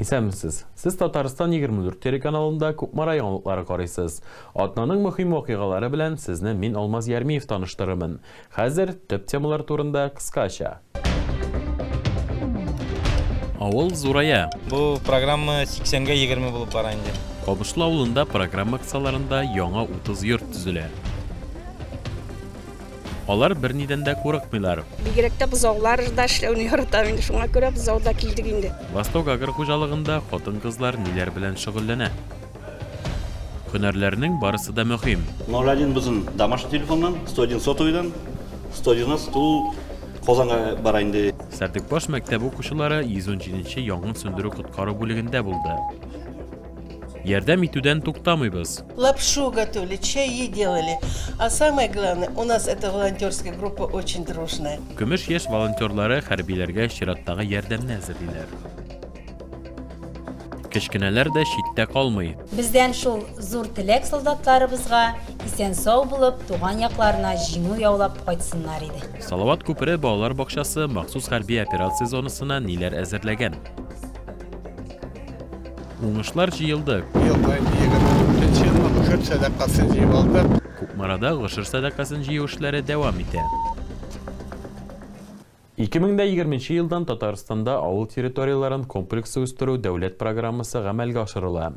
Исәнмесез! Сез Татарстан 24 телеканалында Кукмара яңалыклары карыйсыз. Атнаның мөһим вакыйгалары белән сезне мин Алмаз Ярмиев таныштырырмын. Хәзер төп темалар турында кыскача. Авыл зурая. Бу программа 80-гә 20 булып бара инде. Кабышлы авылында программа кысаларында яңа 30 йорт төзелә. Алар бернидән дә курыкмыйлар. Бигрәк тә бозаулар да эшләүне яратам инде, шуңа күрә бозауда килдек инде. Восток агр хуҗалыгында хатын-кызлар ниләр белән шөгыльләнә? Һөнәрләрнең барысы да мөһим. Ноль один безнең домашний телефоннан, сто один сотовыйдан, сто девяносто ул Казанга бара инде. Сәрдекбаш мәктәбе укучылары 117 нче янгын сүндерү-коткару бүлегендә булды. Ярдәм итүдән туктамыйбыз. Лапшу готовили, чаи делали. А самое главное, у нас эта волонтерская группа очень дружная. Көмеш яшь волонтерлары хәрбиләргә чираттагы ярдәмне әзерлиләр. Кечкенәләр дә читтә калмый. Бездән шул зур теләк солдатларыбызга исән-сау булып, туган якларына җиңү яулап кайтсыннар иде. Салават күпере балалар бакчасы махсус хәрби операция зонасына ниләр әзерләгән? Уңышлар җыелды. Ел саен гошер сәдакасын җыеп алдык. Кукмарада гошер сәдакасын җыю эшләре дәвам итә. 2020 елдан Татарстанда авыл территорияләрен комплекслы үстерү дәүләт программасы гамәлгә ашырыла.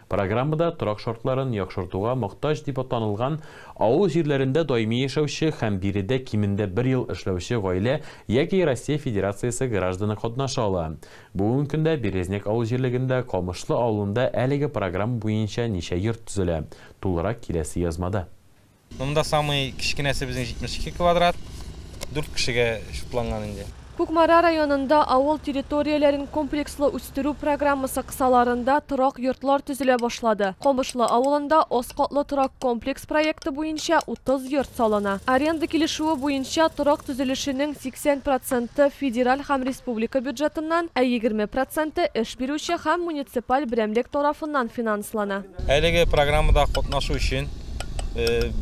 Программада торак шартларын яхшыртуга мохтаҗ дип танылган авыл җирләрендә даими яшәүче һәм биредә кимендә бер ел эшләүче гаилә яки Россия Федерациясе гражданы катнаша ала. Бүгенге көндә Березняк авыл җирлегендә Камышлы авылында әлеге программа буенча ничә йорт төзелә, тулырак киләсе язмада. Монда самый кечкенәсе безнең 72 квадрат, дүрт кешегә чукланган инде. Кукмара районында авыл территорияләрен комплекслы үстерү программасы кысаларында торак йортлар төзелә башлады. Камышлы авылында аз катлы торак комплекс проекты буенча 30 йорт салына. Аренда килешүе буенча торак төзелешенең 80 проценты, федераль һәм республика бюджетыннан, ә егерме проценты эш бирүче һәм муниципаль берәмлек тарафыннан финанслана. Әлеге программада катнашу өчен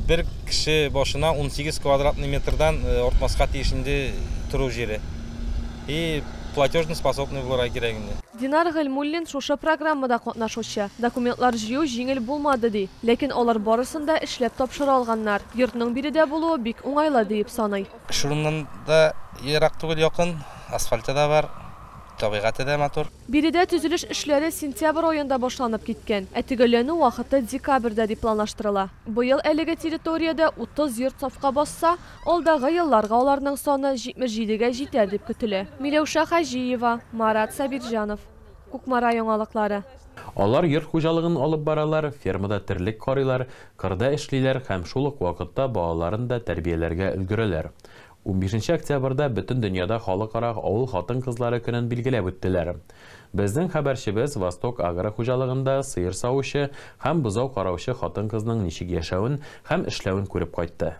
бер кеше башына унсигез квадратный метрдан артмаска тиеш инде тору җире. И платежно способный булырга кирәк инде. Динар Гыйльмуллин шушы программада катнашучы. Документлар җыю җиңел булмады, ди. Ләкин алар барысын да эшләп тапшыра алганнар. Йортның биредә булуы бик уңайлы, диеп саный. Шуннан да ерак түгел, якын. Асфальты да бар, табигате дә матур. Биредә төзелеш эшләре сентябрь аенда башланып киткән, ә төгәлләнү вакыты декабрьдә дип планлаштырыла. Быел әлеге территориядә 30 йорт сафка басса, алдагы елларга аларның саны 77 гә җитәр дип көтелә. Миләүшә Хаҗиева, Марат Сабирҗанов. Кукмара яңалыклары. Алар йорт хуҗалыгын алып баралар, фермада терлек карыйлар, Кырда эшлиләр һәм шул ук вакытта балаларын да тәрбияләргә өлгерәләр. Унбишенче октябрьдә бөтен дөньяда халыкара авыл хатын-кызлары көнен билгеләп үттеләр. Безнең хәбәрчебез Восток Агро хуҗалыгында сыер савучы һәм бозау караучы хатын-кызның ничек яшәвен һәм эшләвен күреп кайтты.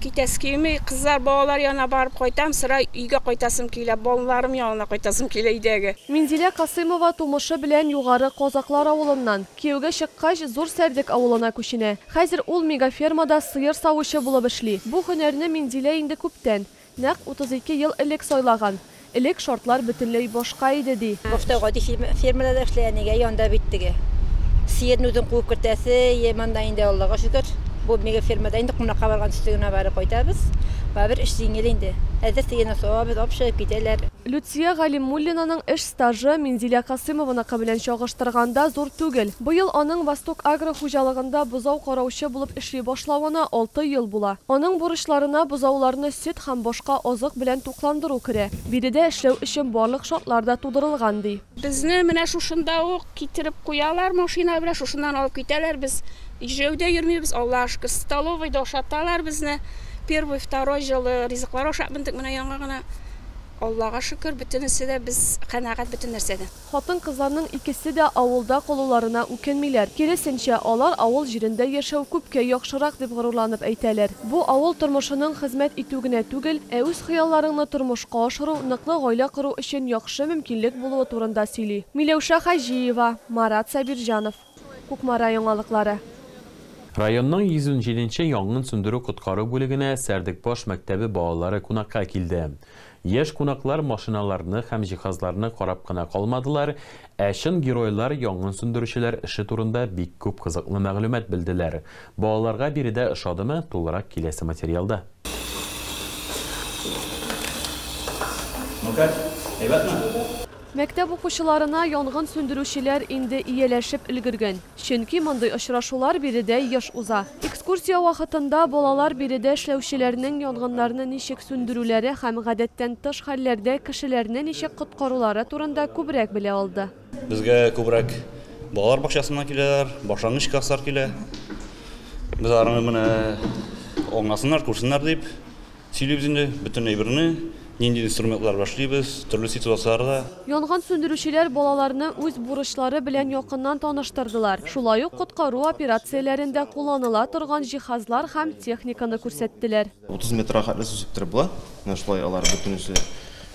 Китәсе килми, кызлар, балалар янына барып кайтам, сыра өйгә кайтасым килә, балаларым янына кайтасым килә өйдәге. Минзилә Касыймова тумышы белән Югары Казаклар авылыннан. Кияүгә чыккач, Зур Сәрдек авылына күченә. Хәзер ул мегафермада сыер савучы булып эшли. Бу һөнәрне Минзилә инде күптән, нәкъ 32 ел элек сайлаган. Элек шартлар бөтенләй башка иде, ди. Башта гади фермада эшли, әнигә янда бит теге. Сыерны үзең куып кертәсе, йә монда инде, Аллага шөкер, бу мега фермада инде кунакка барган төсле генә барып кайтабыз. Барыбер эш җиңел инде. Әзер сыерны савабыз, ап чыгып китәләр. Люция Галимуллинаның эш стажы Минзилә Касыймованыкы белән чагыштырганда зур түгел. Быел аның Восток-Агро хуҗалыгында бозау караучы булып эшли башлавына алты ел була. Аның бурычларына бозауларны сөт һәм башка азык белән Тукландыру керә. Биредә эшләү өчен барлык шартлар да тудырылган, ди. Безне менә шушында ук китереп куялар машина белән, шушыннан алып китәләр. Без җәяүдә йөрмибез, Аллага шөкер. Столовыйда ашаталар безне. Первый, второй җылы ризыклар ашап мендек менә яңа гына. Аллага шөкер, бөтенесе дә без канәгать бөтен нәрсәдән. Хатын-кызларның икесе дә авылда калуларына үкенмиләр, киресенчә, алар авыл җирендә яшәү күпкә яхшырак дип горурланып әйтәләр. Бу авыл тормышының хезмәт итү генә түгел, ә үз хыялларыңны тормышка ашыру, ныклы гаилә кору өчен яхшы мөмкинлек булуы турында сөйли. Миләүшә Хаҗиева, Марат Сабирҗанов. Кукмара яңалыклары. Районның 117 нче янгын сүндерү-коткару бүлегенә Сәрдекбаш мәктәбе балалары кунакка килде. Яшь кунаклар машиналарны һәм җиһазларны карап кына калмадылар, ә чын геройлар, янгын сүндерүчеләр эше турында бик күп кызыклы мәгълүмат белделәр. Балаларга биредә ошадымы, тулырак киләсе материалда. Ну как? Әйбәтме? Мәктәп укучыларына янгын сүндерүчеләр инде ияләшеп өлгергән, чөнки мондый очрашулар биредә еш уза. Экскурсия вакытында балалар биредә эшләүчеләрнең янгыннарны ничек сүндерүләре һәм гадәттән тыш хәлләрдә кешеләрне ничек коткарулары турында күбрәк белә алды. Безгә күбрәк балалар бакчасыннан киләләр, башлангыч класслар килә. Без аларны менә аңласыннар, күрсеннәр дип, Сөйлибез инде бөтен әйберне, нинди инструментлар башлыйбыз, төрле ситуацияләрдә. Янгын сүндерүчеләр балаларны үз бурычлары белән якыннан таныштырдылар, шулай ук коткару операцияләрендә кулланыла торган җиһазлар һәм техниканы күрсәттеләр. 30 метрга хәтле су сиптереп була. Менә шулай алар бөтенесе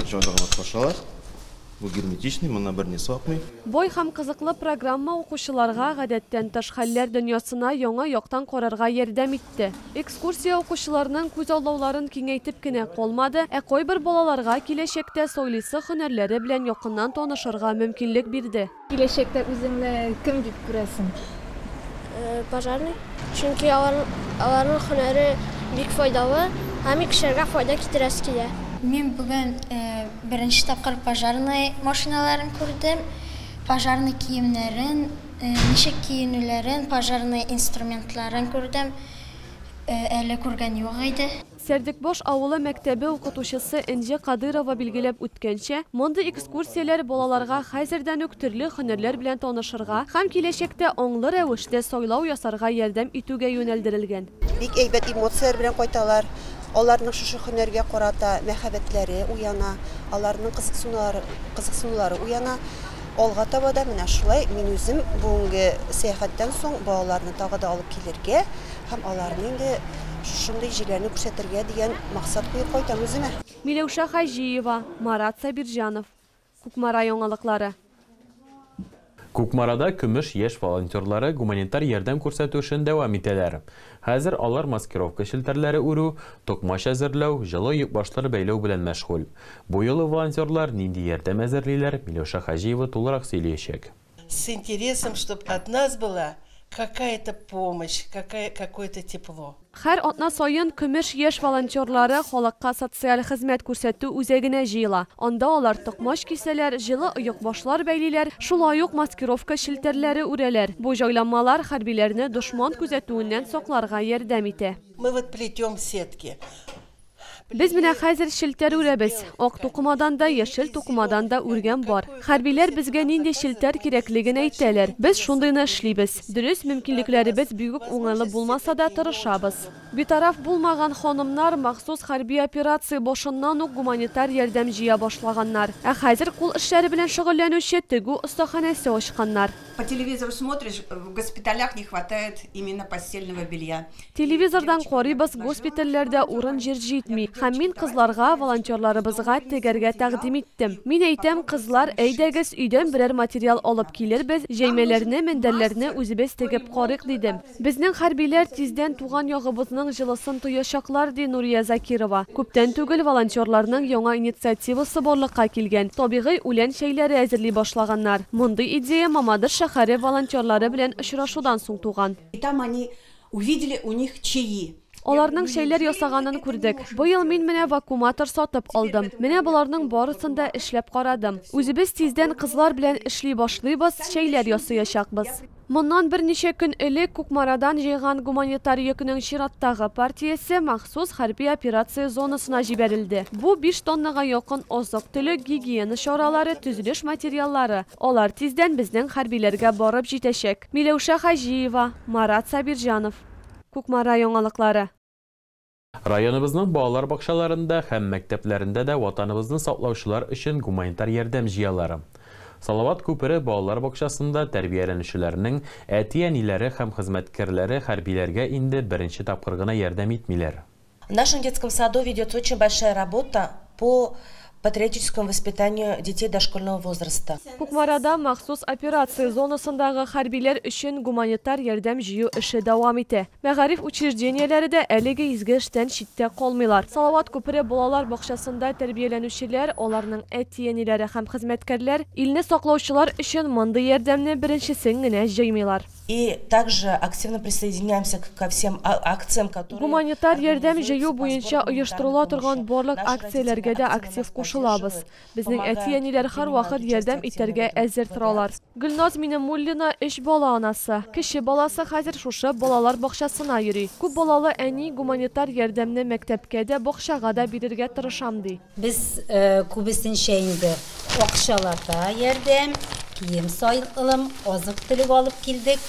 җайланып качалар. Бу герметичный, моннан берни су акмый. Бай һәм кызыклы программа укучыларга гадәттән тыш хәлләр дөньясына яңа яктан карарга ярдәм итте. итте. Экскурсия укучыларның күзаллауларын киңәйтеп кенә калмады, ә кайбер балаларга киләчәктә сайлыйсы һөнәрләре белән якыннан танышырга мөмкинлек бирде. Киләчәктә үзеңне кем дип күрәсең? Пожарный. Чөнки аларның һөнәре бик файдалы һәм кешеләргә файда китерәсе килә. Мин бүген беренче тапкыр пожарный машиналарын күрдем, пожарный киемнәрен Ничек киенүләрен, пожарный инструментларын күрдем. Әле күргән юк иде. Сәрдекбаш авылы мәктәбе укытучысы Энҗе Кадыйрова билгеләп үткәнчә, мондый экскурсияләр балаларга хәзердән үк төрле һөнәрләр белән танышырга һәм киләчәктә аңлы рәвештә сайлау ясарга ярдәм итүгә юнәлдерелгән. Бик әйбәт эмоцияләр белән кайталар. Аларның шушы һөнәргә карата мәхәббәтләре уяна, аларның кызыксынулары уяна. Алга таба да менә шулай мин үзем бүгенге сәяхәттән соң балаларны тагы да алып килергә һәм аларны инде шушындый җирләрне күрсәтергә дигән максат куеп кайтам үземә. Миләүшә Хаҗиева, Марат Сабирҗанов. Кукмара яңалыклары. Кукмарада Көмеш яшь волонтерлары гуманитар ярдәм күрсәтү эшен дәвам итәләр. Хәзер алар маскировка челтәрләре үрү, токмач әзерләү, җылы йөкбашлар бәйләү белән мәшгуль. Бу юлы волонтерлар нинди ярдәм әзерлиләр, Миләүшә Хаҗиева тулырак сөйлиячәк. С интересом, чтоб от нас была какая-то помощь, какая, какое-то тепло. Хәр атна саен Көмеш яшь волонтерлары халыкка социаль хезмәт күрсәтү үзәгенә җыела. Анда алар токмач кисәләр, җылы оекбашлар бәйлиләр, шулай ук маскировка челтәрләре үрәләр. Бу җайланмалар хәрбиләрне дошман күзәтүеннән сакларга ярдәм итә. Мы вот плетем сетки. Без менә хәзер челтәр үрәбез. Ак тукымадан да, яшел тукымадан да үргән бар. Хәрбиләр безгә нинди челтәр кирәклеген әйтәләр, без шундыйны эшлибез. Дөрес, мөмкинлекләребез бигүк уңайлы булмаса да, тырышабыз. Битараф булмаган ханымнар махсус хәрби операция башыннан ук гуманитар ярдәм җыя башлаганнар. Ә хәзер кул эшләре белән шөгыльләнүче тегү остаханәсе ачканнар. По телевизору смотришь, в госпиталях не хватает именно постельного белья. Телевизордан карыйбыз, госпитальләрдә урын-җир җитми. Һәм мин кызларга, волонтерларыбызга тегәргә тәкъдим иттем. Мин әйтәм, кызлар, әйдәгез, өйдән берәр материал алып килербез, җәймәләрне, мендәрләрне үзебез тегеп карыйк, дидем. Безнең хәрбиләр тиздән туган ягыбызның җылысын тоячаклар, ди Нурия Закирова. Күптән түгел волонтерларның яңа инициативасы барлыкка килгән, табигый үлән чәйләре әзерли башлаганнар. Мондый идея Мамадыш шәһәре волонтерлары белән очрашудан соң туган. И там они увидели у них чаи. Аларның чәйләр ясаганын күрдек. Быел мин менә вакууматор сатып алдым. Менә боларның барысын да эшләп карадым. Үзебез тиздән кызлар белән эшли башлыйбыз, чәйләр ясыячакбыз. Моннан берничә көн элек Кукмарадан җыйган гуманитар йөкнең чираттагы партиясе махсус хәрби операция зонасына җибәрелде. Бу, биш тоннага якын азык-төлек, гигиена чаралары, төзелеш материаллары. Алар тиздән безнең хәрбиләргә барып җитәчәк. Миләүшә Хаҗиева, Марат Сабирҗанов. Кукмара яңалыклары. Районыбызның балалар бакчаларында һәм мәктәпләрендә дә Ватаныбызны саклаучылар өчен гуманитар ярдәм җыялар. Салават күпере балалар бакчасында тәрбияләнүчеләрнең әти-әниләре һәм хезмәткәрләре хәрбиләргә инде беренче тапкыр гына ярдәм итмиләр. В нашем детском саду ведется очень большая работа по патриотическому воспитанию детей дошкольного возраста. Кукмарада махсус операция зонасындагы хәрбиләр өчен гуманитар ярдәм җыю эше дәвам итә. Мәгариф учреждениеләре дә әлеге изге эштән читтә калмыйлар. Салават күпере балалар бакчасында тәрбияләнүчеләр, аларның әти-әниләре һәм хезмәткәрләр, илне саклаучылар өчен мондый ярдәмне беренчесен генә җыймыйлар. Гуманитар ярдәм җыю буенча оештырыла торган барлык акцияләргә дә актив кушылабыз. Безнең әти-әниләр һәрвакыт ярдәм итәргә әзер торалар. Гөлназ Минемуллина, өч бала анасы. Кече баласы хәзер шушы балалар бакчасына йөри. Күп балалы әни, гуманитар ярдәмне мәктәпкә дә, бакчага да бирергә тырышам, ди. Без күбесенчә инде акчалата ярдәм, кием-салым, азык-төлек алып килдек.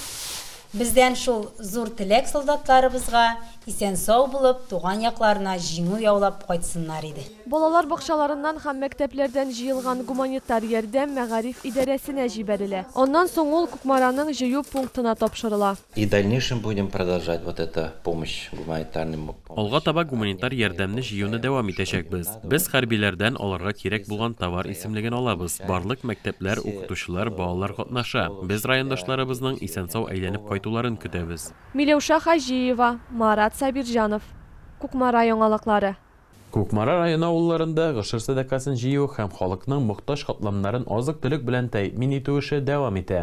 Бездән шул зур теләк солдатларыбызга, исән-сау булып, туган якларына җиңү яулап кайтсыннар иде. Балалар бакчаларыннан һәм мәктәпләрдән җыелган гуманитар ярдәм мәгариф идарәсенә җибәрелә. Аннан соң ул Кукмараның җыю пунктына тапшырыла. И дальнейшем будем продолжать вот это помощь гуманитарный помощь. Алга таба гуманитар ярдәмне җыюны дәвам итәчәкбез. Без хәрбиләрдән аларга кирәк булган товар исемлеген алабыз. Барлык мәктәпләр, укытучылар, балалар катнаша. Без райондашларыбызның исән-сау әйләнеп кайтуларын көтәбез. Миләүшә Хаҗиева, Марат Сабирҗанов. Кукмара яңалыклары. Кукмара районы авылларында гошер сәдакасын җыю һәм халыкның мохтаҗ катламнарын азык-төлек белән тәэмин итү эше дәвам итә.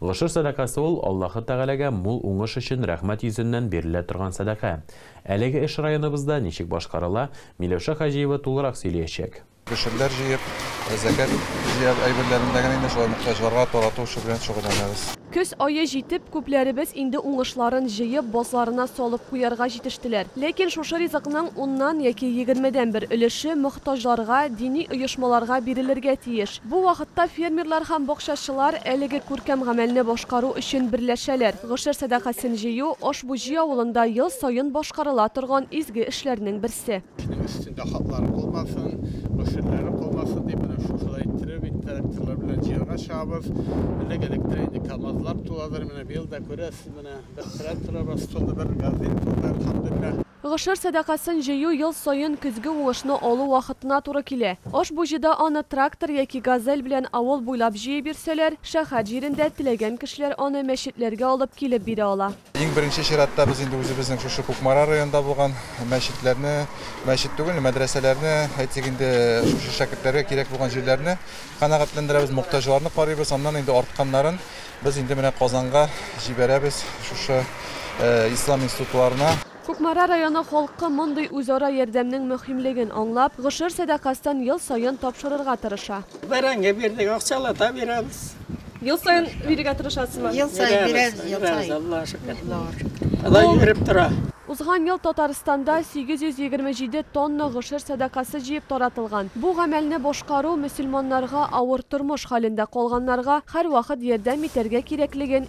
Гошер сәдакасы ул, Аллаһы Тәгаләгә мул уңыш өчен рәхмәт йөзеннән бирелә торган сәдака. Әлеге эш районыбызда ничек башкарыла, Миләүшә Хаҗиева тулырак сөйлиячәк. Гөшерләр җыеп, зәкят җыяр әйберләрен дә генә инде шулай мохтаҗларга тарату эше белән шөгыльләнәбез. Көз ае җитеп, күпләребез инде уңышларын җыеп, базларына салып куярга җитештеләр. Ләкин шушы ризыкның уннан яки егермедән бер өлеше мохтаҗларга, дини оешмаларга бирелергә тиеш. Бу вакытта фермерлар һәм бакчачылар әлеге күркәм гамәлне башкару өчен берләшәләр. Гошер сәдакасын җыю, Ошбуҗи авылында ел саен башкарыла торган изге эшләрнең берсе. Кешенең өстендә хатлары калмасын, мөшерләре калмасын дип, менә шушылай иттереп, инде тракторлар белән җыярга чыгабыз. Элек-электә инде КАМАЗлар туладыр, менә быел да күрәсез, менә бер тракторыбыз тулды, бер газель тулды, әлхәмдүлилләһ. Гошер сәдакасын җыю ел саен көзге уңышны алу вакытына туры килә. Ошбу җыйда аны трактор яки газель белән авыл буйлап җыеп йөрсәләр, шәһәр җирендә теләгән кешеләр аны мәчетләргә алып килеп бирә ала. Иң беренче чиратта без инде үзебезнең шушы Кукмара районында булган мәчетләрне, мәчет түгел, мәдрәсәләрне, әйтсәк инде, шушы шәкертләргә кирәк булган җирләрне канәгатьләндерәбез, мохтаҗларны карыйбыз, аннан инде артканнарын без инде менә Казанга җибәрәбез, шушы ислам институтларына. Кукмара районы халкы мондый үзара ярдәмнең мөһимлеген аңлап, гошер сәдакасьтән ел саен тапшырырга тырыша. Бәрәңге бирдек, акчалата бирәбез. Ел саен бирергә тырышасызмы? Ел саен бирәбез, ел саен. Бирәбез, Аллага шөкер. Аллага шөкер. Алай йөреп тора. Узган ел Татарстанда 827 тонна гошер сәдакасы җыеп таратылган. Бу гамәлне башкару мөселманнарга авыр тормыш хәлендә калганнарга һәрвакыт ярдәм итәргә кирәклеген